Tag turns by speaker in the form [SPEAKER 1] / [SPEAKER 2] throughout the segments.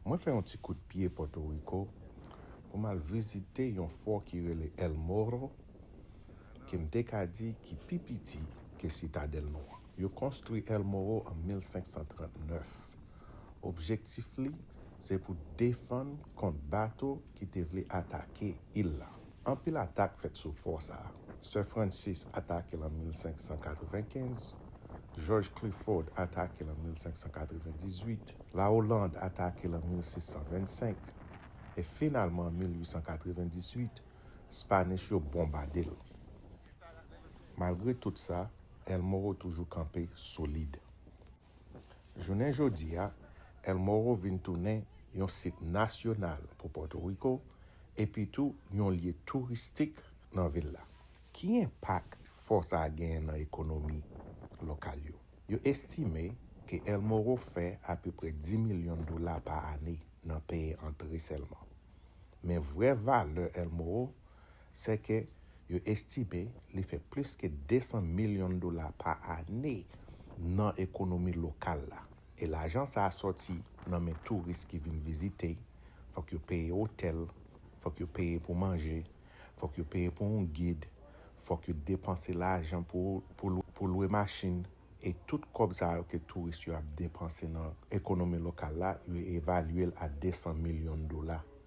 [SPEAKER 1] Mwen fè yon ti kout pye Pòto Riko pou m al vizite yon fò ki rele El Morro ke m te ka di ki pi piti ke sitadèl nou an. Yo konstwi El Morro an 1539. Objektif li se pou defann kont bato ki te vle atake il la. Anpil atak fèt sou fò sa a. Sir Francis atake l an 1595, Jòj Clifford atake l an 1598, La Hollande atake l an 1625, e finalman an 1898, Spanish yo bonbade l. Malgre tout sa, El Morro toujou kanpe solid. Jounen jodi a, El Morro vin tounen yon sit nasyonal pou Pòtoriko epi tou yon lye touristik nan vil la. Ki enpak fò sa a genyen nan ekonomi lokal yo? Yo estime ke El Morro fè apeprè 10 milyon dola pa ane nan peye antre sèlman. Men vrè valè El Morro Sèke yo estime li fè plis ke 200 milyon dola pa ane nan ekonomi lokal la. E lajan sa a sòti nan men touris ki vin vizite, fòk yo peye otèl, fòk yo peye pou manje, fòk yo peye pou yon gid, fòk yo depanse lajan pou lwe machin. E tout kòb sa yo ke touris yo ap depanse nan ekonomi lokal la, yo evalye l a 200 milyon dola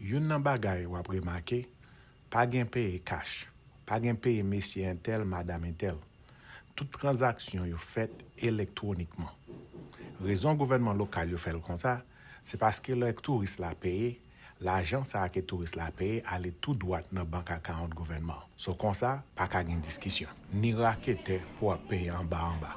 [SPEAKER 1] Youn nan bagay w ap remake, pa gen peye kach, pa gen peye mesye entèl, madam entèl. Tout tranzaksyon yo fèt elektwonikman. Rezon gouvènman lokal yo fè l konsa, se paske lè touris la peye, lajan sa a ke touris la peye ale tou dwat nan bank akawont gouvènman. So konsa, pa ka gen diskisyon. Ni raketè pou ap peye anba anba.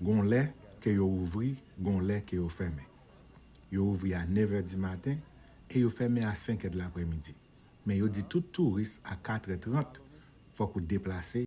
[SPEAKER 1] Gon lè ke yo ouvri, gon lè ke yo fèmen. Yo ouvri a nevè di maten e yo fèmen a senkè dlapremidi. Men yo di tout touris a katrè trant fòk ou deplase.